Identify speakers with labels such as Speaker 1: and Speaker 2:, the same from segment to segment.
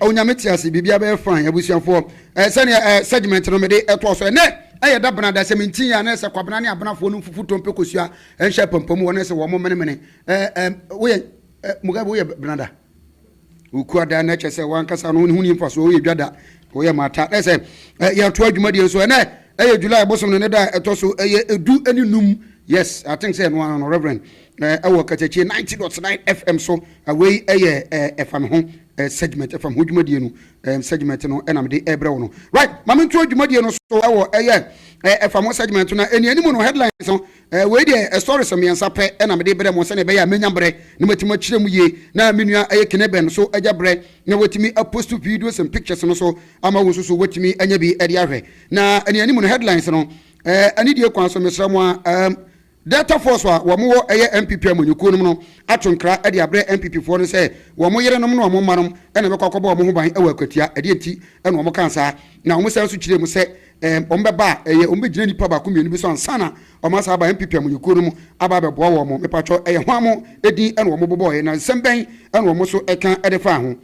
Speaker 1: Onyame te ase, biribiara bɛyɛ fine abusuafoɔ. Ɛɛ sɛdeɛ ɛɛ segment no mede ɛtoa so ɛnɛ ɛyɛ da bena da sɛ menti yɛ a na ɛsɛ kwabena ne abenafoɔ nom fufu tompe kosua ɛnhyɛ apampam wɔ na ɛsɛ wɔn mene mene ɛɛ ɛɛ woyɛ ɛɛ Mugabe woyɛ bena da wokua da na ɛkyɛ sɛ wankasa no ho ni mfasoɔ woyɛ dwa da woyɛ mata na ɛsɛ ɛɛ yɛatoa dwumadie nso ɛnɛ ɛyɛ July bosom no ne da ɛtɔ so ɛyɛ edu ne num yes I think sɛ ɛno ano no Reverend Na wɔ Kasatie ninety dot nine FM so, wei yɛ ɛfa me ho segment, ɛfa me ho dwumadie no segment no na mede ɛbrɛ wo no. Right, ma me ntoɔ dwumadie no so wɔ ɛyɛ ɛfa me ho segment no, ɛne anim no headlines no, wei deɛ stories mmiɛnsa pɛ na mede brɛ mo sɛdeɛ ɛbɛyɛ a mɛnya berɛ na matumi akyerɛ mu yie, na me nua ɛyɛ Kene Ben so agya berɛ na watumi apost videos and pictures no so ama wo nso so watumi anya bi de ahwɛ. Na ɛne anim no headlines no, ɛne die kwan so mesrɛ mo a, Delta Force a wɔn wɔ ɛyɛ NPP amanyɔkuo nom no ato nkra de abrɛ NPP foɔ no sɛ wɔn yere nom ne wɔn mma nom na ɛbɛkɔ akɔbɔ wɔn ho ban wɔ akwatia, ɛdeɛ nti na wɔn kaa saa na wɔn san nso kyerɛɛ mu sɛ wɔn bɛba a ɛyɛ wɔn bɛgyina nipa baako mmienu bi so ansa na wɔn asan aba NPP amanyɔkuo nom aba abɛboa wɔn, mepatwɔ ɛyɛ hwan mo din na wɔn bobɔɔɛ na nsɛm bɛn na wɔn nso ka de faa ho.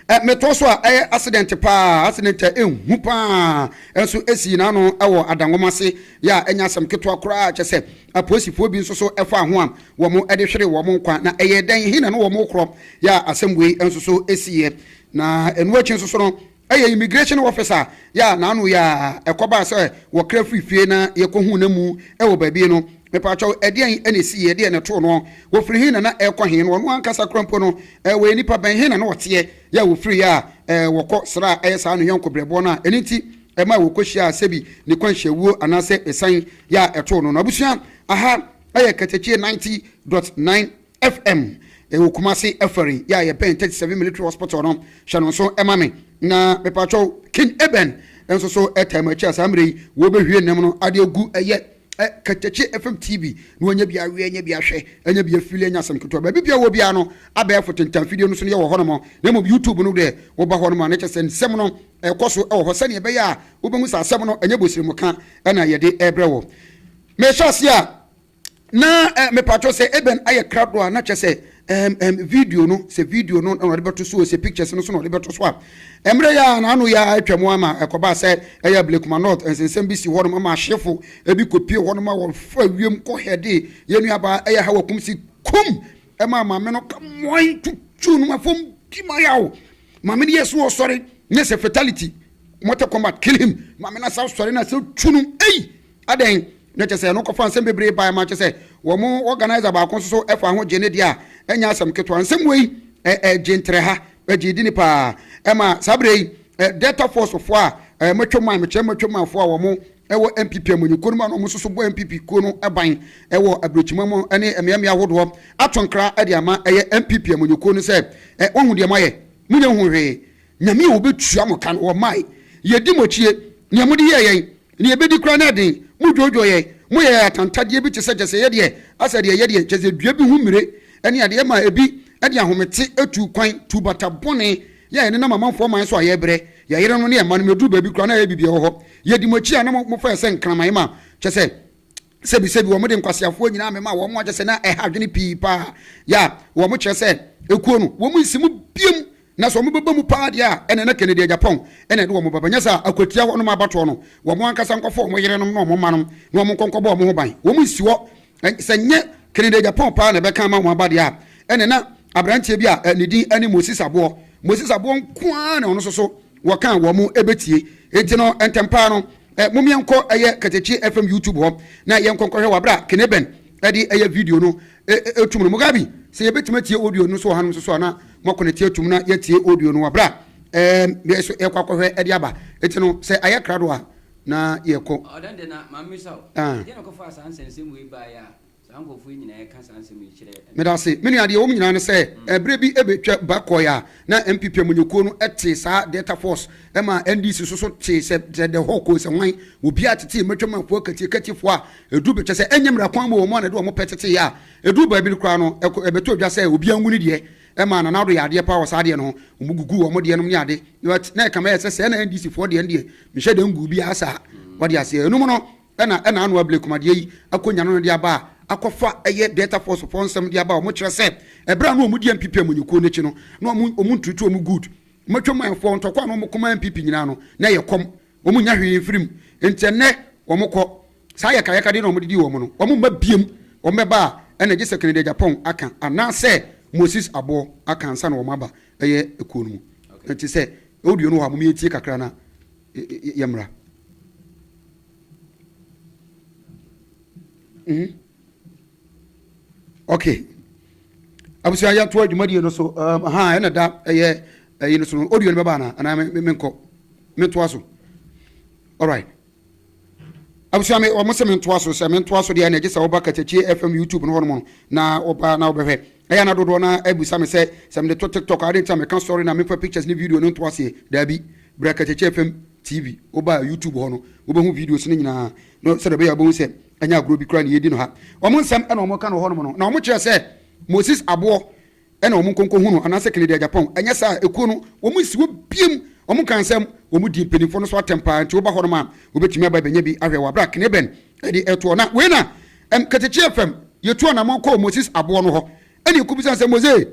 Speaker 1: Ɛ, metow so a, ɛyɛ asedɛnte paa, asedɛnte a ehu paa nso esii n'ano wɔ ada nwoma ase, yɛ a ɛnyɛ asɛm ketewa koraa, kyerɛ sɛ, apolisifo bi nso so faa ho a wɔde hweree wɔn nkwa. Na ɛyɛɛ dɛn? He na na wɔrekorɔ, yɛ a asɛm wei nso so siiɛ. Na ɛno akyi nso so no, Ɛyɛ immigration officer yɛ a n'ano yɛ a ɛkɔbaa sɛ wɔkra firii fie na yɛkɔhuu no amu wɔ baabi no. Mepaakyɛw, ɛdeɛn na ɛsii? Ɛdeɛn na ɛtoo noɔ? Wɔfiri he na na ɛrekɔ he? Na ɔno ankasa koraa mpo no, wɔyɛ nnipa bɛn? He na na ɔteɛ yɛ a wɔfiriiɛ a wɔkɔ sraa ɛyɛ saa no yɔnko berɛboɔ no a ɛno nti ɛmaa wɔkɔhyiaa sɛbi ne kwanhyiawuo anaasɛ ɛsiane yɛ a ɛtoo no no? Abusua, aha yɛ Katakye ninety dot nine. FM ɛwɔ Kumasi ɛfɛre yɛ a yɛbɛn thirty seven military hospital no hyɛ no nso ɛma me na mepatwɔ king eben nso so ɛtaa mu akyi a saa mmerɛ yi wɔbɛhwie nnam no ade agu ɛyɛ ɛ katakye fm tv na wɔnyɛ bi aweɛ nyɛ bi ahwɛ nyɛ bi afili nyɛ asɛm ketewa baabi bia wɔ biara no abɛɛfo tentan fidie no so no yɛwɔ hɔ nom na mmom youtube no deɛ woba hɔ nom a ne kyɛ sɛ nsɛm no ɛkɔ so ɛwɔ hɔ sɛdeɛ ɛbɛyɛ a wobɛhu sɛ asɛm no ɛnyɛ bosiri mu ka ɛna yɛde ɛbrɛ wɔ mehyɛ ase a Na eh, mepatwɔ sɛ ebɛn ayɛ krado a na kyɛ sɛ ɛm ɛm video no sɛ video no na ɔde bɛto so o sɛ pictures no so na ɔde bɛto so a mmerɛ yɛ a na ano yɛ a atwa mu ama ɛkɔbaa sɛ ɛyɛ ablekuma north nsensɛm bi si hɔ nom ama ahyefo ebi kɔpie hɔ nom a wɔfa wiem kɔ hɛde yɛ nuabaa ɛyɛ ha wakum si kum ɛma maame no ka mmoan tutu nom afam di ma yɛ o maame no yɛ so ɔsɔre nyɛ sɛ fatality mortal combat kill him maame no asɛ sɔre no asɛ tu nom ei Adɛn? Na kyerɛ sɛ ɛno kɔfa nsɛm bebree bae ma kyerɛ sɛ wɔn organiser baako nso so fa ho gye ne deɛ a, ɛnyɛ asɛm ketewa. Nsɛm wei gye ntrɛha, ɛgye edini paa. Ɛma saa berɛ yi Delta Force foɔ a matwam man, mekyerɛ matwam man foɔ a wɔn wɔ NPP amanyɔ kuo no mu a na wɔn nso so bɔ NPP kuo no ban wɔ abirekyima mu ne mmea mmea ahodoɔ ato nkra de ama ɛyɛ NPP amanyɔ kuo no sɛ wɔahu deɛ moayɛ, monyɛ nhuu hwee. Nyame a obetua mo ka no, wɔmae. Yedi mo akyi, nea mode yɛɛ yɛn, nea ebedi koraa no yɛ den. Mudwoodwoo yɛn, moyɛ yɛn atantadeɛ bi te sɛ gyesɛeɛ deɛ, asɛ deɛ ɛyɛ deɛ, gyesɛ dua bi ho mmire, ne adeɛ ma ebi de ahomete tu kwan, tu bata bɔne yɛ a ɛnenam amanfoɔ aman so a yɛbrɛ, yɛn yerenom ne yɛn mma nom. Ɛduru baabi koraa no a ɛyɛ biribiara wɔ hɔ. Yedi mo akyi a na mofɛɛ sɛ nkraman ma, kyerɛ sɛ, Sɛbisɛbi, wɔde nkwaseafoɔ nyinaa memaa wɔn a kyerɛ sɛ na ɛha adwene pii paa yɛ a wɔkyerɛ sɛ ekuo no wɔnsi mu biom na sɛ wɔbɛba mu paa deɛ a ɛneɛ na Kennedy Agyapong na ɛde wɔn bɛba, nyɛ saa a akwatia hɔ nom abatoɔ no wɔn ankasa nkɔfa wɔn yerenom ne wɔn mma nom na wɔn nkɔ nkɔbɔ wɔn ho ban, wɔnsi hɔ sɛ nyɛ Kennedy Agyapong paa na ɛbɛka ama wɔn aba deɛ a ɛneɛ na abranteɛ bi a ne din ne Moses Aboɔ, Moses Aboɔ nko ara na ɔno nso so. Wɔka a wɔn bɛtie. Enti no, ntɛm pa ara no, mom yɛnkɔ ɛyɛ Katakye FM YouTube hɔ na yɛnkɔ nkɔhwɛ wɔ berɛ a Kene Ben de ɛyɛ video no retum no. Mugabi, sɛ yɛbɛtumi atie audio no nso wɔ hanom nso so a, na moakɔnɛte atum na yɛatie audio no wɔ berɛ a yɛn nso yɛrekɔ akɔhwɛ de aba. Enti no, sɛ ayɛ krado a, na yɛrekɔ. Ɔɔ, dɛn de na, ma memmisa
Speaker 2: wo, deɛn na ɔkɔfaa saa nsɛnsɛm wei baeɛ a Saa nkurɔfoɔ yi nyinaa ɛka saa nsɛm yi kyerɛ ɛno. Medase me nua deɛ ɛwom
Speaker 1: nyinaa ne sɛ ɛberɛ bi ɛbɛtwa ba kɔɔɛ a na NPP amanyɔkuo no tee saa Delta force ɛma NDC nso so tee sɛ sɛ the whole kɔɔɛ sɛ hwan wɔ biaa tetee matwam afoa katie katie foɔ a ɛduru bɛ kyɛ sɛ ɛnyɛ mmra kwan mu wɔn a na ɛde wɔn pɛ tetee a ɛduru baabi no koraa no ɛkɔ ɛbɛtɔ dwa sɛ obiaa ngu ne deɛ ɛma Nana Addo yɛ adeɛ paa wɔ saa deɛ no ho wɔn guguu wɔn deɛ nom ne ade but na ɛkame ayɛ sɛ sɛɛ na NDC foɔ deɛ no deɛ menhyɛ da nguu biaa saa wate aseɛ ɛnum no Ɛna ɛna ano abire komadeɛ yi akonya no no de aba a akɔfa ɛyɛ Delta Force foɔ nsɛm de aba a wɔn kyerɛ sɛ ɛberɛ a na wɔn di NPP amanyɔkuo no akyi no na wɔn wɔn ntutu wɔn good wɔn atwaman foɔ ntɔkwa a na wɔn kɔma NPP nyinaa no na ɛyɛ kɔm wɔn nnya hwee mfiri mu nti ɛnɛ wɔn kɔ saa yɛkayɛkadeɛ na wɔn de di wɔn no wɔn mma biem wɔn bɛba a ɛna gye sɛ Kennedy Agyapong aka anaasɛ Moses Aboɔ aka ansa na wɔn aba ɛyɛ ekuo no mu nti sɛ audio no wɔ ha mom yɛntie kakra na yɛmmra. Mm. Okay. Abusua yɛto adwumadie no so um, ha ɛna da ɛyɛ ɛyi no so no audio no bɛba anaa anaa menkɔ metoa so alright Abusua me wɔn se me ntoa so sɛ me ntoa so deɛ na gye sɛ woba Kakyɛkyie FM YouTube no hɔ nom no na woba na wobɛhwɛ ɛyɛ ana dodoɔ no ara bisa me sɛ sɛ mede to TikTok a adɛn nti na meka story na memfa pictures ne video no nto aseɛ daabi bra Kakyɛkyie FM TV woba YouTube hɔ no wobɛhu videos no nyinaa no sɛdeɛ ɛbɛyɛ wobɛhu sɛ ɛnyɛ agorɔ bi koraa na yɛdi no ha wɔn nsɛm na wɔka no hɔ nom no na wɔkyerɛ sɛ Moses aboɔ ɛna wɔn nkɔ nkɔhu no anaasɛ Kennedy Agyapong, ɛnyɛ saa a ekuo no wɔn nsi hɔ biom, wɔn nka nsɛm, wɔn di mpaninfoɔ no so atɛm paa, nti woba hɔnom a wobɛtumi aba abɛnya bi ahwɛ wɔ aberɛ a Kneben de retoɔ, na wei na ɛm Katakyi FM yɛtu anamɔn kɔɔ Moses Aboɔ no hɔ ɛna yɛkɔbisa sɛ Mose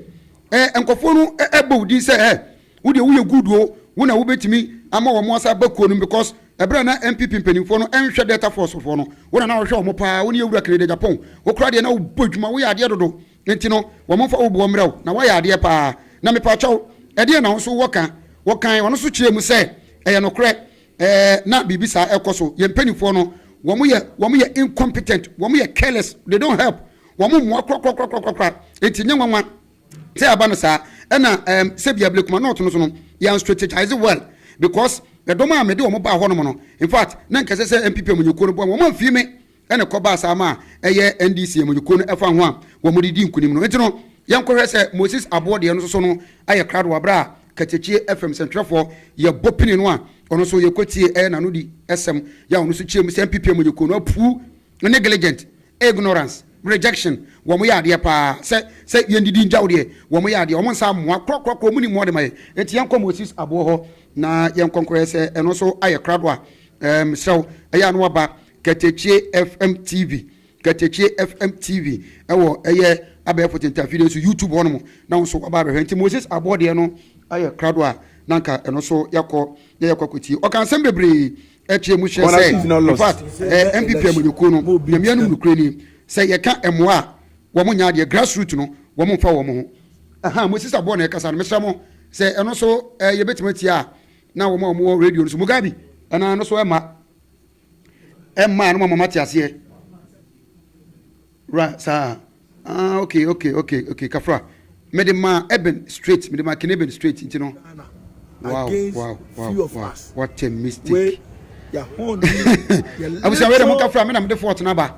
Speaker 1: ɛɛ nkɔfoɔ no ɛbɔ wo din sɛ ɛɛ wo deɛ woyɛ good o, wo na wobɛtumi ama wɔn asa aba kuo no mu because ɛberɛ a na NPP mpaninfoɔ no ɛnhwɛ Delta Force foɔ no wo na na wohwɛ wɔn paa, wo ne yɛwura Kennedy Agyapong, wo koraa deɛ na wobɔ adwuma, woyɛ adeɛ dodo. Enti no, wɔ momfa wo boɔ mmrɛ wo, na woayɛ adeɛ pa ara. Na mepaakyɛ wo, ɛdeɛn na wo nso wowɔ ka? Wɔkae, ɔno nso kyerɛɛ mu sɛ, Ɛyɛ nokorɛ, ɛɛ, na biribi saa ɛkɔ so. Yɛn mpanimfoɔ no, wɔyɛ, wɔyɛ incompetent, wɔyɛ careless, they don't help, wɔmmoa korakorakorakorakora. Enti ɛnyɛ nwanwa sɛ aba no saa. Ɛna ɛɛm, sɛbia Blakuma North no so no, yɛan strategise well, because ɛdɔm a mede wɔn baa hɔnom no, in fact, na nka ɛsɛ sɛ MPP amanyɔkuo no boa me, wɔn amfie me. Ɛna ɛkɔ baa saa ma ɛyɛ NDC amanyɔkuo no ɛfa ho a wɔn de di nkunim no. Nti no yɛn kɔ hwɛ sɛ Moses Aboɔ deɛ no soso no ayɛ krado wɔ berɛ a Katakye FM sɛntwerɛfoɔ yɛ bɔ pini no a ɔno nso yɛ kɔ tie ɛyɛ n'ano di sɛm yɛ a ɔno nso kyeam sɛ NPP amanyɔkuo no apuu negligent, ignorance, rejection wɔn yɛ adeɛ paa sɛ sɛ yɛn didi ngyaw deɛ wɔn yɛ adeɛ wɔn nsa mmoa korɔ korɔ korɔ wɔn nni mmoa de ma yɛn. Nti yɛn kɔ Moses Aboɔ hɔ na yɛn kɔ nkɔ hwɛ sɛ ɛno nso ayɛ krado a ɛɛm serɛ wo ɛyɛ a na waba Katakye FM TV, Katakye FM TV, ɛwɔ ɛyɛ abɛɛfo tentafiri no so, YouTube hɔ nom na wo nso waba abɛhwɛ. Nti Moses Aboɔ deɛ no ayɛ krado a na nka ɛno so yɛakɔ na yɛakɔ akɔtie. Ɔka nsɛm bebree ɛkyerɛ mu hyɛ sɛ in fact ɛɛ NPP amanyɔkuo no Nyame anom nokorɛ ni sɛ yɛka mmoa a wɔn nyɛ adeɛ grassroot no wɔn mfa wɔn ho. Ahaa Moses Aboɔ na ɛkasa no mesrɛ mo sɛ ɛno so ɛɛ yɛbɛtumi atie a na wɔn a wɔn wɔ radio no so Mugabi ɛna ɛno so ɛma. Ɛmmaa no mama mate aseɛ. Wura saa ah ok ok ok ok kafra mede ma Eben straight mede ma Ken Eben straight nti no. Wow wow wow wow what a mistake.
Speaker 3: Abusua
Speaker 1: wei de mo kafra me na mede fort na ba.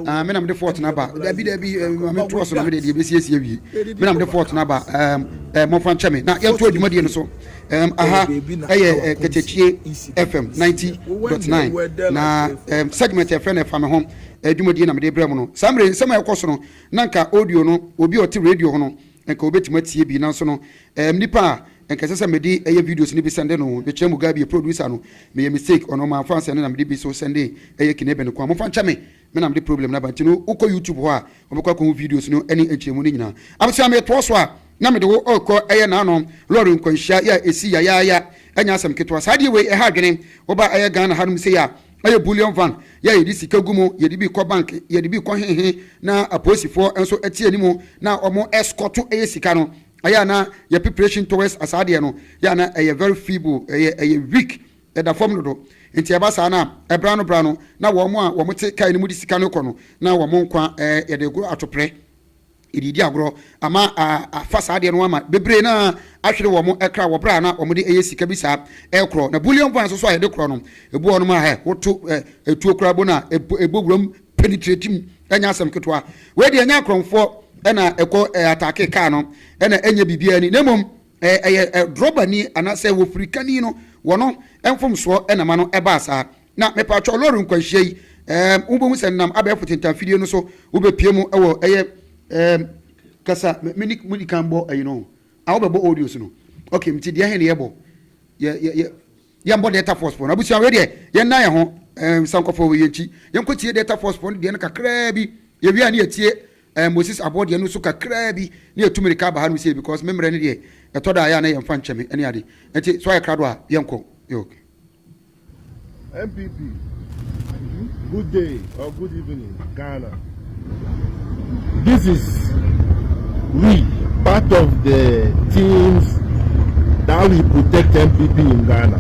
Speaker 1: Ah me na mede fort na ba. Dabi dabi eh, mame to aso na mede de ebesiesie wie. Me na mede fort na ba. Um, eh, mo fa nkyɛ me na yɛnto adwumadie no so. Um, aha ɛyɛ eh, kɛkyɛkyie fm ninety dot nine na um, segment ɛfrɛ no ɛfa me ho adwumadie na mede brɛ mu no saa mmerɛ nsɛm a ɛkɔ so no na nka audio no obi a ɔte radio ho no nka obɛtumi atie bi nanso no um, nipa a nka ɛsɛ sɛ mede ɛyɛ videos no bi sɛnde no mekyerɛ mu ga bi producer no meyɛ mistake ɔno ɔma afa sɛne na mede bi so sɛnde ɛyɛ kinebe no kwan mofa nkyɛ me Me na mede problem no aba nti no wokɔ YouTube hɔ a wobɛkɔ akɔhu videos no ne nkyerɛmu no nyinaa. Abusua metoa so a na mede wo rekɔ ɛyɛ naano lɔre nkwanhyia yɛ a ɛsi yayaaya ɛnyɛ asɛm ketewa saa deɛ wei ɛha adwene woba ɛyɛ Ghana hanom sei a ɛyɛ bullion van yɛ a yɛde sika gu mu yɛde bi kɔ bank yɛde bi kɔ hehe na apolisifoɔ nso ɛte anim na ɔmo ɛskɔto ɛyɛ sika no ɛyɛ a na yɛ preparation towards asaa deɛ no yɛ a na ɛyɛ very feeble ɛyɛ ɛyɛ weak Ɛda fam dodo. Enti ɛba saa no a, bere ano bere ano na wɔn a wɔte kae no mu de sika no kɔ no, na wɔn nkwa yɛde goro atopre, yɛde redi agorɔ, ama afa saa adeɛ no ho ama bebree na ahwere wɔn kra wɔ bere a na wɔde yɛ sika bi saa rekorɔ. Na bullion vans nso a yɛde korɔ no, ebu hɔnom a hɛ, woto tuo koraa bo no a, ɛbɔ wuram penetrate mu, ɛnyɛ asɛm ketewa. Wei deɛ ɛnyɛ akorɔmfoɔ na ɛkɔ ataake kaa no, ɛna ɛnyɛ biribiara ni, na mmom Ɛyɛ drɔbani anaasɛ wofirikani no wɔ no mfomsoɔ na ma no ɛbaa saa. Na mepatwɔ lɔre nkwanhyia yi ɛɛm wobɛhu sɛ nam abɛɛfo tentanfidie no so wobɛpie mu wɔ ɛyɛ ɛɛm kasa meni mudi kan bɔ ɛyi no a wobɛbɔ audios no ok mti deɛ he ne yɛbɔ yɛ yɛ yɛ yɛmbɔ delta force pɔ no abusua wei deɛ yɛnna yɛ ho ɛɛm sankɔfɔ wei yɛnkyi yɛnkɔtie delta force pɔ no deɛ no kakraa bi yɛwie a ne yɛtie Ɛɛ Moses aboɔ deɛ ɛno nso kakraa bi na yɛtu mirika aba ha nom sei because me mmerɛ no deɛ ɛtɔ da a ɛyɛ a na yɛmfa nkyɛ me ne ade nti sɛ wayɛ krado a yɛnkɔ ok. NPP good day or good
Speaker 3: evening Ghana this is we part of the teams that we protect NPP in Ghana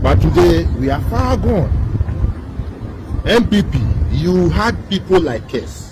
Speaker 3: but today we are far gone NPP you had people like us.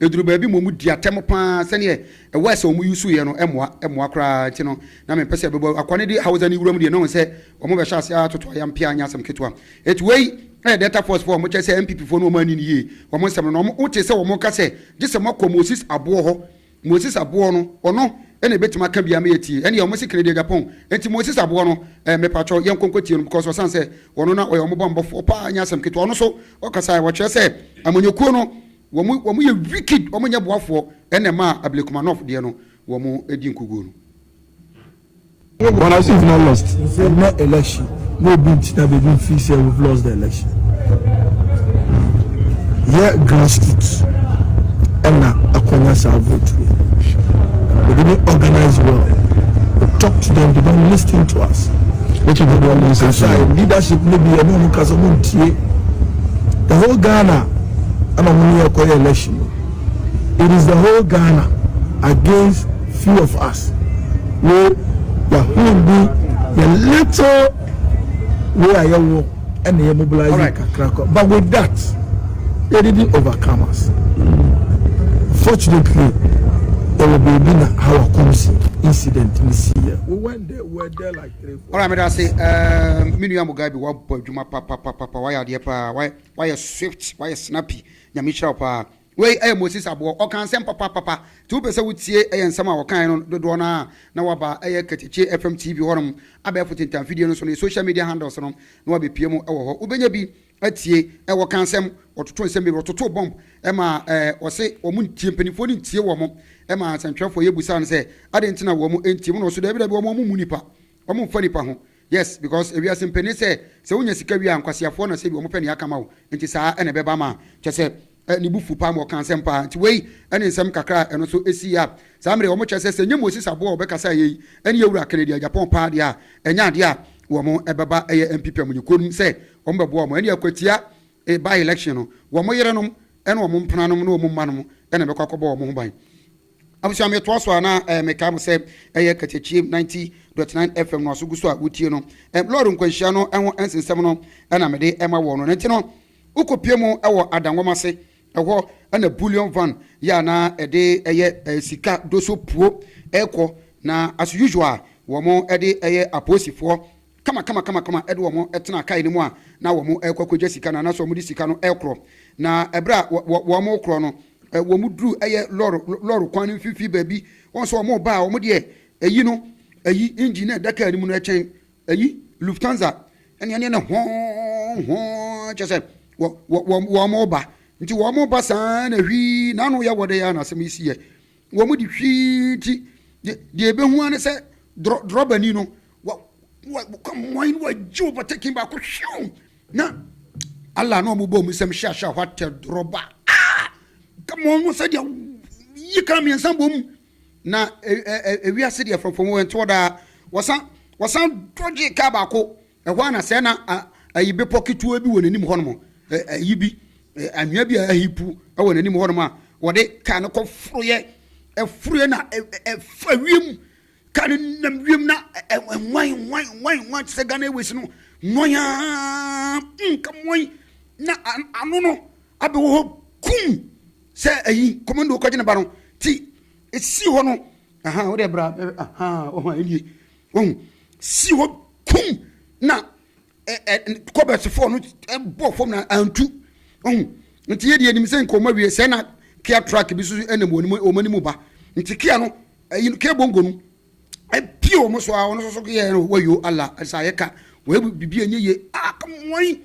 Speaker 1: Ɛduru baabi ma wɔdi atɛm pa ara, sɛdeɛ words a wɔuseeɛ no mmoa mmoa koraa nti no, na mempɛ sɛ ɛbɛbɔ akoa no de Hausa no wuram deɛ, na wɔn sɛ wɔbɛhyɛ aseɛ ara atoto ayam pea nyɛ asɛm ketewa. Enti wei yɛ Delta Force foɔ a wɔkyerɛ sɛ NPP foɔ no wɔn anni no yie wɔn nsɛm no, na wɔn wotee sɛ wɔn reka sɛ gye sɛ moakɔ Moses Aboɔ hɔ, Moses Aboɔ no ɔno na ɛbɛtumi aka biara ma yɛatie, ɛnneɛ wɔn se Kennedy Agyapong, enti Moses Aboɔ no eh, mepakyɛw yɛnkɔ nkɔtie no because ɔsane sɛ ɔno na ɔyɛ wɔn bɔmmɔfoɔ paa nyɛ asɛm ketewa, ɔno nso ɔkasaeɛ, ɔkyerɛ sɛ amanyɔkuo no Wɔn wɔn yɛ wicked wɔn nyɛ boafoɔ ɛna ɛmaa Ablekumanov deɛ no wɔn di nkuguo no.
Speaker 4: Ghana nso has not lost ɛnɛ election na obi nti na baabi nfii sɛ we've lost the election yɛ grassroots ɛna akwanya saa vote no we didn't organize well we talk to them they don't listen to us which is the problem ɛsɛ leadership no bi ɛna ɔmo kasa ɔmo ntie the whole Ghana. ɛna ɔmo ne yɛ kɔ yɛ election no it is the whole ghana against few of us wo yɛhoo bi yɛ little wei a yɛwɔ ɛna yɛ mobilize kakra kɔ but with that it didn't overcome us fortunately ɛwɔ baabi na how akomsi incident ne si yɛ we went there we were there like three four. ɔrɔ ameda ase ɛɛ
Speaker 1: mi nua mo guy bi wabɔ adwuma papapapa wayɛ adeɛ paa wayɛ. Wayɛ swift, wayɛ snappy. Nyame nhyira wo paa. Wei yɛ Moses Aboɔ. Ɔkaa nsɛm papapapa. Nti wopɛ sɛ wotie yɛ nsɛm a ɔkaeɛ no dodoɔ no ara a, na woaba ɛyɛ Katakye FM TV hɔnom, abɛɛfo tentanfidie no so, ne social media handles no, na woabɛpue mu wɔ hɔ. Wobɛnya bi atie. Wɔkaa nsɛm, wɔtotoo nsɛm bebree, wɔtotoo bomb ma wɔse wɔn ntie, mpanimfoɔ no ntie wɔn ma nsɛntwerɛfoɔ yi busaa no sɛ adɛn nti na wɔn ntie mu na ɔse daabi daabi wɔn mmu nnipa. Ɔmo nfa nipa ho. Yes because ewiase mpɛ ne sɛ sɛ wonya sika wie a nkwaseafoɔ na sɛ bi ɔmo pɛ nea aka ma wo nti saa na ɛbɛba ma kyɛ sɛ ne bo fu paa ma ɔka asɛm paa nti wei ne nsɛm kakra a ɛno so ɛsii a saa mmere ɔmo kyɛ sɛ sɛ nyɛ Moses aboa a ɔbɛkasaeɛ yi ɛne Awura Kennedy a Japan paa deɛ a ɛnyɛ adeɛ a wɔn ɛbɛba ɛyɛ MP pɛ mo nyɛ komm sɛ ɔmo bɛboa ɔmo ɛne akwatia e by election no wɔn yerenom ɛne wɔn mpenanom ne wɔn mmanom ɛna ɛbɛkɔ akɔbɔ ɔmo ho ban. Abusua metoa so a na eh, mekae mo sɛ ɛyɛ Kasakyiem 90.9 FM no aso gu so a wotie no. Eh, lɔɔre nkwanhyia no ho nsensɛm no na mede ɛma wɔn no. Ne nti no, wokɔpie mu wɔ adangɔm ase, ɛhɔ na bullion van yɛ a na ɛde ɛyɛ eh, sika doso puo ɛkɔ, na as usual wɔn ɛde ɛyɛ apolisifoɔ kamakamakama de wɔn tenaa kae no mu a na wɔrekɔ akɔgya sika no anaasɛ wɔde sika no rekorɔ. Na berɛ a wɔrekorɔ no, wɔduruu ɛyɛ lɔre lɔre kwan no mfimfini baabi. Wɔn nso wɔreba a, wɔn deɛ ayi no, ayi engine no a ɛda kaa no mu no kyɛn ayi Lufthansa ne ɛne ne hɔɔn hɔɔn kyɛ sɛ wɔreba. Nti wɔreba saa na hwii n'ano yɛ wɔde yɛ a na asɛm yi si yɛ. Wɔn de hwii nti, de, deɛ ɛbɛhu ara ne sɛ drɔ, drɔbani no, wa, wa, kɔ mmoae no wagye ɔbɔtɛkin baako hyew. Na, Allah na wɔn bɔ wɔn nsam hyɛ ahyɛ hɔ atɛ drɔba. Ah! Kama wɔn no sɛdeɛ yi kan mmiɛnsa bɔ mu. Na, e, e, e, ewiase deɛ fɔmfɔm wɔ ɛntoɔ daa. Wɔsan, wɔsan dɔgye kaa baako. Ɛhɔ ara na sɛɛ na ayi bepɔ ketewa bi wɔ n'anim hɔnom, ayi bi, anwea bi a ahi pu wɔ n'anim hɔnom a wɔde kaa no kɔ foroyɛ, ɛforoyɛ na ɛfa wiem, kaa no nam wiem na ɛnwan nwan nwan nwan te sɛ Ghana Airways no, nwan aa, nka nwan na ano no abɛwɔ hɔ kum sɛ ayi kɔmando kɔgye ne ba no, ti esi hɔ no, aha, wode bra, aha, ɔho a ɛnie. Wahu? Sii hɔ kum na kɔbɛsfoɔ no bɔ fam na antu. Wahu? Nti yɛ deɛ anim sɛ nka ɔma wie sɛ na kia truck bi so ɛnam wɔn anim ba. Nti kia no ayi no kia bongo no ɛpie wɔn so a wɔn nso so yɛ no wayo ala ɛsɛ ayɛ ka wɔyɛ bibi ɛnyɛ yie a wɔn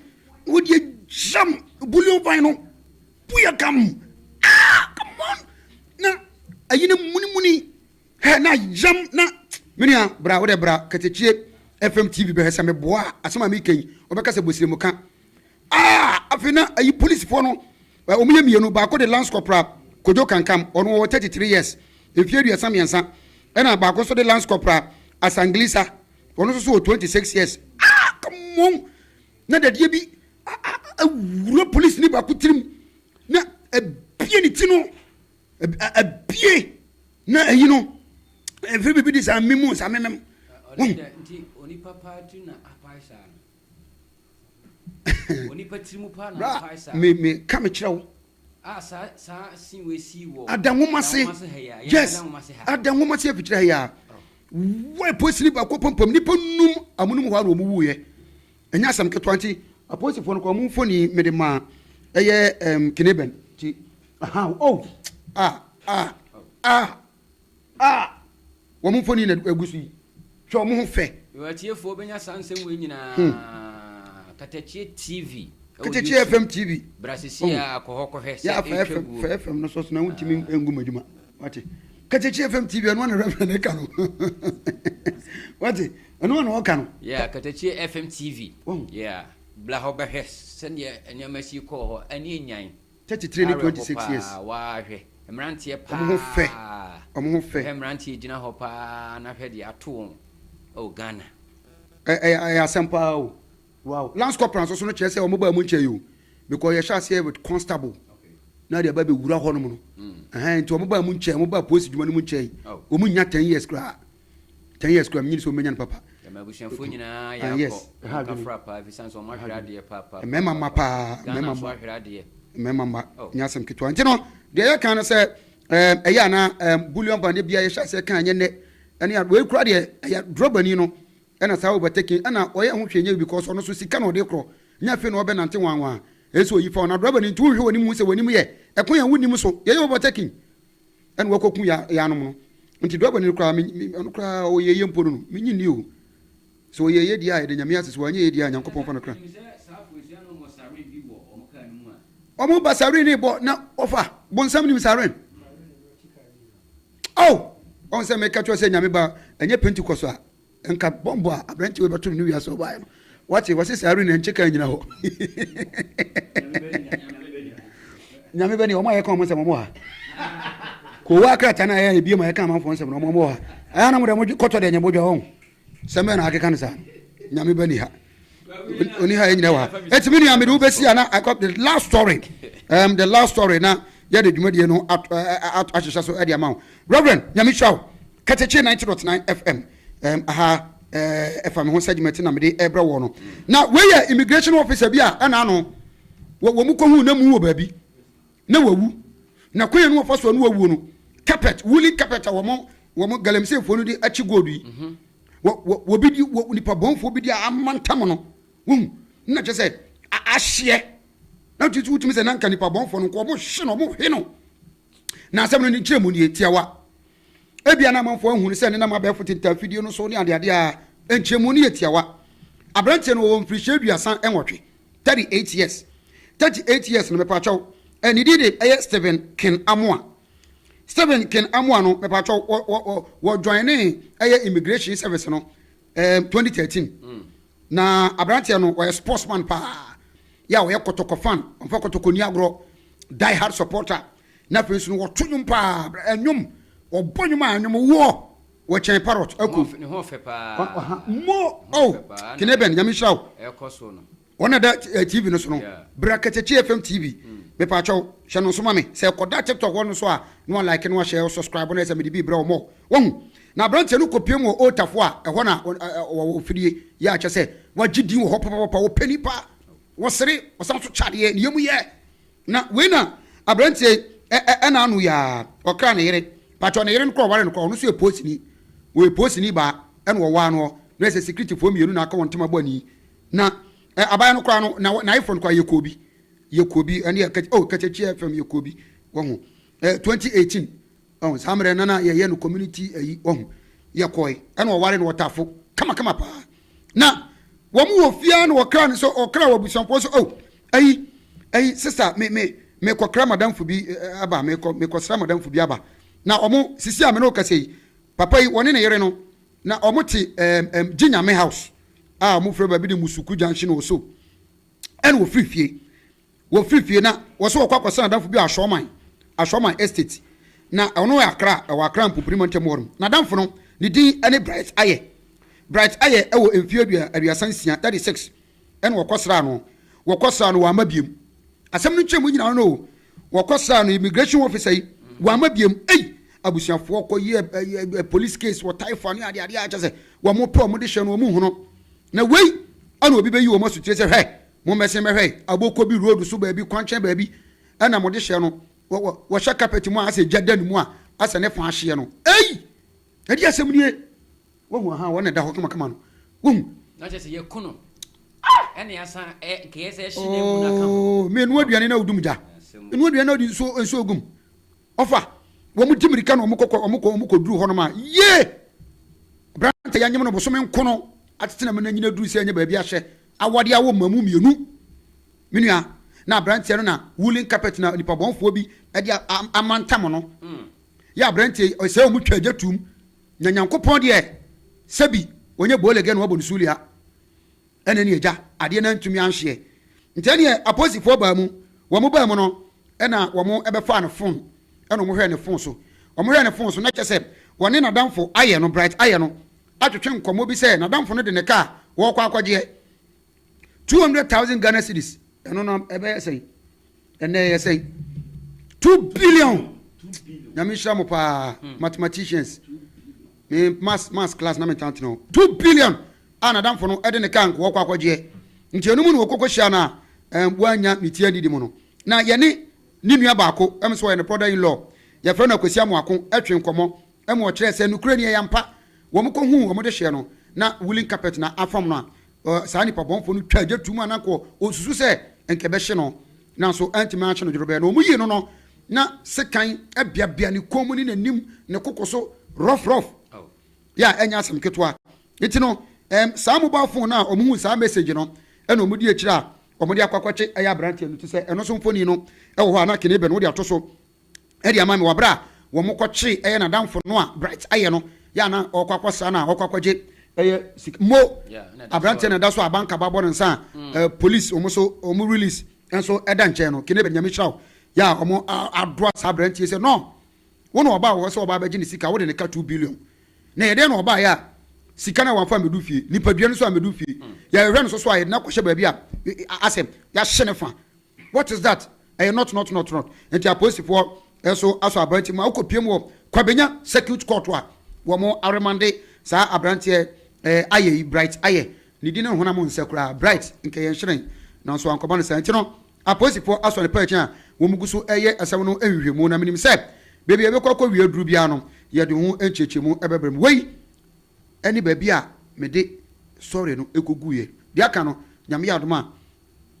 Speaker 1: wɔde agyam bullion ban no buyɛ kam ah come on na ayi no munimuni Hɛ na yam na me nua bra wodɛ bra katakye FM TV bɛhwɛ sɛ meboa a asɛm a meka yi wɔbɛka sɛ bosiremu ka ah afei na ayi polisifoɔ no wɔn yɛ mmienu baako de lance corporal kojo kankam ɔno wɔ 33 years mfie aduasa mmiɛnsa ɛna baako nso de lance corporal asanglisa ɔno nso so wɔ 26 years ah come on na dadeɛ bi awura polisi ne baako tirim na ebie ne ti no abie na ayi no ɛfiri biribi de saa memu saa
Speaker 2: memem meka mekyerɛ wo ada nwoma se
Speaker 1: yes ada nwoma se afikyerɛ ha yɛa wɔ posini baakɔ pampam nnipa num amonom hɔ a na ɔmuwuiɛ Ɛnyɛ asɛm ketewa nti apolisifoɔ no kɔɔ mo mfoni mede maa ɛyɛ um, kene bɛn nti ahaw oh ah ah ah ah wɔn mfoni na egu so yi hwɛ wɔn ho fɛ. Yɛwɔ atiefoɔ bɛnya
Speaker 2: saa nsɛm wei nyinaa hmm. Katakyie TV Katakyie FM
Speaker 1: TV brasisi oh. a kɔ
Speaker 2: hɔ kɔhwɛ sɛ ɛtwa guo fɛ
Speaker 1: FM no so so na wontumi ngu mu adwuma wate katakyi fm tv ɛno na reverend ɛka no wate ɛno na ɔka no yeah katakyi fm
Speaker 2: tv oh. yeah bla hɔ bɛhwɛ sɛdeɛ nneɛma si kɔɔ hɔ ɛne anyan 33 ne 26 years
Speaker 1: waahwɛ
Speaker 2: mmeranteɛ paa ɔmo ho fɛ ɔmo
Speaker 1: ho fɛ hwɛ mmeranteɛ gyina hɔ paa
Speaker 2: na hwɛ deɛ ato wɔn oh ghana ɛyɛ
Speaker 1: asɛm paa o Wow! Lance corporal nso so no kyerɛ sɛ wɔn baa mu nkyɛe o. Because yɛhyɛ aseɛ with constable na yɛde aba bɛwura hɔ nom no. Ɛhɛn nti wɔn baa mu nkyɛe, wɔn baa polisi dwuma no mu nkyɛe. Wɔn nnya ten years koraa. Ten years koraa menyini sɛ wɔn bɛnya no papa. Yɛn abusuafoɔ nyinaa
Speaker 2: yɛ akɔ. Yes, ɛha adwene. Yɛn kafra paa ɛfiri sɛ nso wɔn ahwere adeɛ paa paa. Mmarima mma paa,
Speaker 1: mmarima mma. Ahwere adeɛ. Mmarima mma, nyɛ asɛm ketewa. Nti no, deɛ yɛ kan no sɛ ɛɛm ɛyɛ anaa ɛɛm bullion band bia yɛhyɛ aseɛ kan nyɛ nɛ ɛne a wei koraa deɛ ɛyɛ drɔbani no Ɛna saa overtaking ɛna ɔyɛ ho hwee nyɛ because ɔno nso sika na ɔde korɔ nyɛ afei na ɔbɛnante wanwaa ɛyɛ sɛ ɔyi fa wo na driver no nti wonhwɛ w'anim hu sɛ w'anim yɛ ɛkwan a wonnim so yɛyɛ overtaking ɛna wakɔku yɛ yɛanom no nti driver no koraa me me ɔno koraa ɔyɛ yɛ mpo no no menyi nni o sɛ ɔyɛ yɛ deɛ a yɛde nyame ase sɛ wanyɛ yɛ deɛ a nyankopɔn fa no kra ɔmo ba siren bɔ na ɔfa bonsam nim siren. Ao! Ɔn sɛ meka kyerɛ wo sɛ Nyame ba ɛnyɛ Pentecost a, nka bɔmbɔ a aberanteɛ wei bɛto no ne wiase a ɔbaeɛ no. Wate? Wɔse saa arena nkyɛ kaa nnyina hɔ. Nyame bɛ deɛ, wɔn a yɛka wɔn nsɛm wɔn wɔ ha. Kowaa krataa no a yɛyɛ bie ma yɛka amanfoɔ nsɛm no wɔn wɔ ha. Ɛyɛ a na mo deɛ mo kɔtɔ deɛ nyɛ mo dwa wɔn. Sɛ mɛn na akeka no saa nyame ba ni ha oni ha yɛnyina wɔ ha ɛti me nua mede wobɛsi a na the last story um, the last story na yɛde dwumadie no ahyehyɛ so ɛde ama wo reverend nyame hyira wo katakye 90.9 fm um, aha ɛfa me ho sɛ dwumati na mede ɛbrɛ wɔ no na wei yɛ immigration officer bi a ɛna ano wɔ mu kɔhu na mu wɔ baabi na wawu, na kwan a na wɔfa so a na wawuo no, carpet, woolen carpet a wɔn, wɔn galamseyfoɔ no de akye gold yi, wɔ, wɔ, wɔbi di, wɔ nipa bɔnfoɔ bi di a amantam no, wohu, na kyerɛ sɛ, a, ahyeɛ, na tutu wotumi sɛ na nka nipa bɔnfoɔ no nko, wɔn hye no, wɔn he no, na asɛm no ne nkyerɛmu nie, tiawa, Ebia na amanfoɔ nhunu sɛ ɛnenam abɛɛfo tintaafidie no so ne adeade a nkyerɛmu no yɛ tiawa. Aberanteɛ no, ɔwɔ mfirihyia aduasa nwɔtwe, 38 years. 38 years no, mepaakyɛw, eh, ne din de ɛyɛ Stephen Ken Amoah. Stephen Ken Amoah no, mepaakyɛw, wɔ, wɔ, wɔ, wɔ joinee ɛyɛ immigration service no, eh, 2013. Mm. Na aberanteɛ no, ɔyɛ sportsman paa. Yɛ a ɔyɛ kɔtɔkɔ fan, ɔmfa kɔtɔkɔ ni agorɔ, die hard supporter. na afei nso no wɔto nnwom paa ɛnwom wɔbɔ nnwom a ɛnwom woɔ wɔkyɛn parrot ɛko ne ho ɔfɛ paa
Speaker 2: mo oh
Speaker 1: kene
Speaker 2: bɛn nyame nhyira
Speaker 1: wo ɛkɔ
Speaker 2: so no
Speaker 1: wɔn na da eh, tv no so no bra katakyi fm tv hmm. mepaakyɛw hyɛ no nso ma me sɛ ɛkɔda tiktok hɔ no so a na wɔlike no ahyɛ subscribe no ɛsɛ mede bi brɛ wɔn wɔn na aberanteɛ no kɔpie mu wɔ otafo a ɛhɔ na wɔwɔ fidie yɛ akyɛ sɛ wagye din wɔ hɔ papapapa wɔpɛ nipa wɔsere wɔsan so kyadeɛ ne yɛmu yɛ Na wei na abranteɛ yi ɛna ano yaa ɔkra ne yere patwɔ ne yere no kɔ ɔware no kɔ ɔno so yɛ poosini wɔyɛ poosini baa ɛna ɔwaa noɔ na ɛsɛ sikiriti foɔ mmienu na aka wɔn ntɛm abɔ ani na ɛ abaya no koraa no na na ayefo no koraa yɛ koobi yɛ koobi ɛne yɛ kɛkyɛ oh kɛkyɛkyɛ fam yɛ koobi wɔn ho ɛ 2018 Ɔho saa mmerɛ no na yɛyɛ no community ayi wahu yɛkɔɔe ɛna ɔware no ɔtafo kama kama paa na wɔn wɔ fiaa na ɔkra no sɛ ɔkra wɔ abusuafoɔ sɛ oh ayi ayi sista me me me kɔkra madamfo bi aba me kɔ me kɔsra madamfo bi aba na ɔmo sisi a me ne ɔkasa yi papa yi wɔne ne yere no na ɔmo te ɛɛm ɛɛm gye nyame house a ɔmo fira baabi de musuku junction ɔso ɛna ɔfiri fie. Wɔfiri fie na wɔse wɔkɔ akɔsra n'adamfo bi wɔ Ashorman, Ashorman Estate, na ɛhɔ no yɛ Accra, ɛwɔ Accra Mpopini Mantam hɔ nom. N'adamfo no, ne din ne Bright Ayɛ. Bright Ayɛ wɔ mfeɛ aduasa nsia, 36, ɛna wɔkɔsraa no. Wɔkɔsraa no, wamma biom. Asɛm no nkyerɛmu nyinaa no ne o, wɔkɔsraa no, immigration officer yi, wamma biom. Ei! Abusuafoɔ kɔyɛɛ police case wɔ Taifa ne adeadeɛ a kyerɛ sɛ wɔpɛ wɔn de hyɛ no, wɔn nhu no. Na wei ɛna obi bɛyi wɔn asutire sɛ hwɛ, Mommɛsen mmɛhwɛ Aboko bi road so baabi, kwankyɛn baabi na wɔde hyɛ no. Wɔ, wɔ, wɔhyɛ carpet mu a, asɛ gya da ne mu a, asɛ ne fã hyeɛ no. Ei! Ɛdeɛ asɛm nie! Woahu, ahaa, wɔn na ɛda hɔ kamakama no. Woahu? Na kyerɛ sɛ yɛku no,
Speaker 2: ɛna yɛasan, ɛ, nka yɛ sɛ ɛhye n'amu no aka ho. Oo, me, noa aduane na wodum
Speaker 1: gya. Noa aduane na wode nsuo, nsuo gum. Ɔfa, wɔn di mmirika na wɔn kɔ, wɔn kɔ, wɔn kɔ duru hɔnom a, yie! Aberante yɛanyem no bosome nkono, atetena mu na nyina duru sɛ ɛnyɛ baabi ahyɛ. Awɔde a wɔma mu mmienu, me nua, na aberanteɛ no na woolen carpet na nipabɔnfoɔ bi de amantam no, yɛ aberanteɛ yi ɔsɛ wɔn twa gya tum, na Nyankopɔn deɛ sɛbi ɔnyɛ boolege na wabɔ no sulia, ɛna ɛne agya adeɛ no antumi anhyeɛ. Nti ɛneɛ aposifoɔ baa mu, wɔn baa mu no ɛna wɔn ɛbɛfaa ne phone ɛna wɔn hwɛɛ ne phone so, wɔn hwɛɛ ne phone so na kyɛ sɛ wɔne nadamfo ayɛ no, Bright ayɛ no, atwetwe nkɔmmɔ bi sɛ n'adamfo no de ne kaa wɔrekɔ akɔgyeɛ, two hundred thousand Ghana cedis, ɛno no ɛbɛyɛ sɛn? ɛnɛ ɛyɛ sɛn? two billion, nyame nhyira mo paa hmm. mathematicians, me mass mass class na metaa tena hɔ, two billion a n'adamfo no de ne kaa nko wɔrekɔ akɔgyeɛ, nti ɛno mu na wɔkɔkɔ hyia no a wɔanya ne tia didi mu no na yɛne ne nua baako ɛm sɛ ɔyɛ ne brother in law yɛfrɛ no akwasi amoako ɛtwe nkɔmmɔ Ɛma ɔkyerɛɛ sɛ nokorɛ ni ɛyɛ ampa. Wɔn kɔ huu wɔn dehyeɛ no, na woolen carpet na afam no a, saa nipa bɔnfoɔ no twaa gya tuum a na nka ɔresusu sɛ nka ɛbɛhye no, nanso antumi anhye no dwodwobɛɛ. Na wɔyii no no, na sekan abiabia ne kɔn mu ne n'anim, ne koko so, rough rough. Yeah, ɛnyɛ asɛm ketewa. Nti no, ɛɛm, saa mobile phone no a wɔhuu saa message no na wɔn di akyire a wɔde akɔ akɔtwe ɛyɛ aberanteɛ no ti sɛ ɛno nso mfoni no wɔ hɔ a na kene bɛ no wode ato so. de ama me wɔ bere a wɔkɔkyeree ɛyɛ n'adamfo no a Bright ayɛ no yɛ a na ɔrekɔ akɔsra no a ɔrekɔ akɔgye ɛyɛ sika mo aberanteɛ na ɛda so a banka ba bɔ no nsa a mm. eh, police wɔn so wɔn release nso ɛda nkyɛn no kene bɛ nyame hyira o yɛ a wɔn adoa saa aberanteɛ sɛ no wɔn na ɔbaa wɔ sɛ ɔbaa bɛgye ne sika wɔde ne ka two billion na yɛdeɛ na ɔbaa yɛ a sika na wɔafa mɛdu fie nipadua no so a mɛdu fie mm. yɛhwɛ no so so a yɛde no akɔhyɛ baabi a asɛm yɛahyɛ ne fa What is that? Ɛyɛ nɔt nɔt nɔt nɔt. Nti apolisifoɔ nso asɔ aberanteɛ mu a ɔkɔpiam wɔ Kwabenya Circuit Court a wɔn aremande saa aberanteɛ eh, Ayɛ yi, Bright Ayɛ. Ne din ne honam nsɛ koraa, Bright nka ɛyɛ nhyerɛn. Nanso ankɔba no saa. Nti no apolisifoɔ asɔ no pɛɛkyen a wɔn gu so reyɛ asɛm no nhwehwɛmu na menim sɛ baabi a ɛbɛkɔ akɔwie aduru biara no yɛde ho nkyerɛkyerɛmu bɛbrɛ mo. Wei ne baabi a mede sɔre no kɔguiɛ. Deɛ aka no Nyame yɛ adom a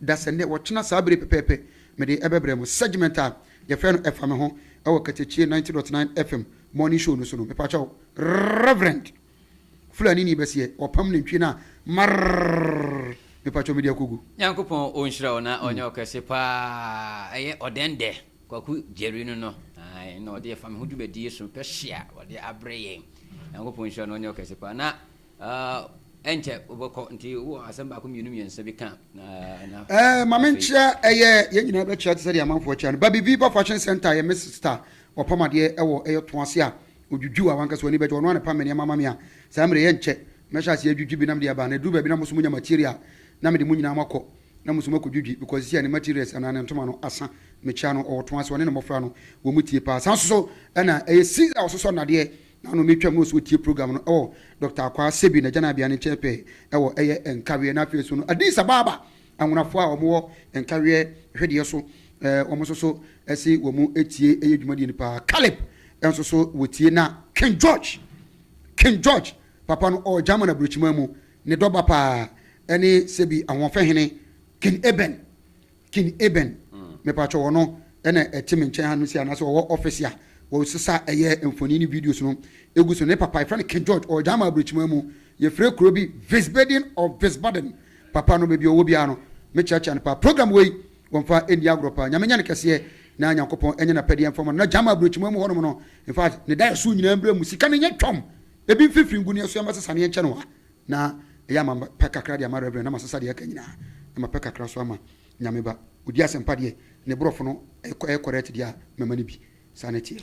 Speaker 1: da sɛ nnɛ wɔkyena saa bere yi pɛpɛɛpɛ mede ɛbɛbrɛ mo. Segment a yɛfrɛ no Ɛfa Me Ho wɔ Katakyiɛ ninety dot nine FM morning show no so no, mepakyɛw, Reverend Fulanini Basiɛ, wɔpam nantwie no a marrrrrrr, mepakyɛw mede akogu. Nyankopɔn ɔnhyira
Speaker 2: wo na ɔnyɛ wo kɛse paa ɛyɛ ɔdɛndɛ Kwaku Jerry no no ae na ɔde ɛfa me ho dwumadie so pɛ hye a ɔde abrɛ yɛn Nyankopɔn nhyira no ɔnyɛ wo kɛse paa na Aa, ɛnkyɛ wobɛkɔ. Nti wowɔ asɛm baako mmienu mmiɛnsa bi ka na na. Ɛɛ, ma me nkyerɛ,
Speaker 1: ɛyɛ yɛn nyinaa bɛkyerɛ te sɛ deɛ amanfoɔ kyerɛ no. Baby Viva Fashion Centre yɛ me sista ɔpam adeɛ ɛwɔ ɛyɛ ɔtɔn ase a odwudwu a wankasa w'ani bɛgye, ɔno a na ɛpam me nneɛma ma me a saa mmerɛ yɛ nkyɛ mɛhyɛ aseɛ adwudwi bi na mede aba. Na ɛduru baabi na mo nso monya material a na mede mo nyinaa moakɔ na mo nso moakɔ dwudwi because seesei a ne materials anaa ne ntoma no asa. Mekyia no, ɔwɔ ɔtɔn ase, ɔne ne mmɔfra no wɔn mu tie paa. Saa nso so na ɛyɛ Caesar a ɔsosɔ nnadeɛ. Na ɔno na etwam no so otie program no wɔ Dɔkta Akwaa Sebi n'agyananbea no nkyɛn pɛɛ wɔ ɛyɛ Nkaweɛ. Na afei so no Addis Ababa anwonafoɔ a wɔn wɔ Nkaweɛ hwedeɛ so wɔn nso so se wɔn tie ɛyɛ dwumadie no paa. Caleb nso so wɔtie na King George, King George papa no ɔwɔ German aburokyiman mu, ne dɔ ba paa ɛne Sebi Ahoɔfɛhene, King Eben King Eben, Mepatwɔ wɔ no na ɛte me nkyɛn ha no sei anaasɛ ɔwɔ office a wɔsesa ɛyɛ mfoni ne videos no egu so ne papa yɛfrɛ no King George ɔwɔ Gyama Abrɛkyima mu yɛfrɛ kuro bi Visbedin or Visbaden papa no baabi ɔwɔ biara no me kyeakyea no paa program wei wɔnfa ɛnni agorɔ paa Nyame nyɛ no kɛseɛ na Nyankopɔn ɛnyɛ napɛdeɛ mfa ma no na Gyama Abrɛkyima mu hɔ nom no infact ne daeɛso nyinaa mbra mu sika no nyɛ twɔm ebi mfifiri ngu ne ɛso ɛma sesaneɛ nkyɛ no wa Na ɛyɛ a ma me pɛ kakra de ama Reverend na masesa deɛ aka nyinaa na mapɛ kakra nso ama Nyame ba. Odi asɛmpa deɛ ne borɔfo no ɛyɛ correct deɛ a mɛma no bi. Saa na ɛteɛ.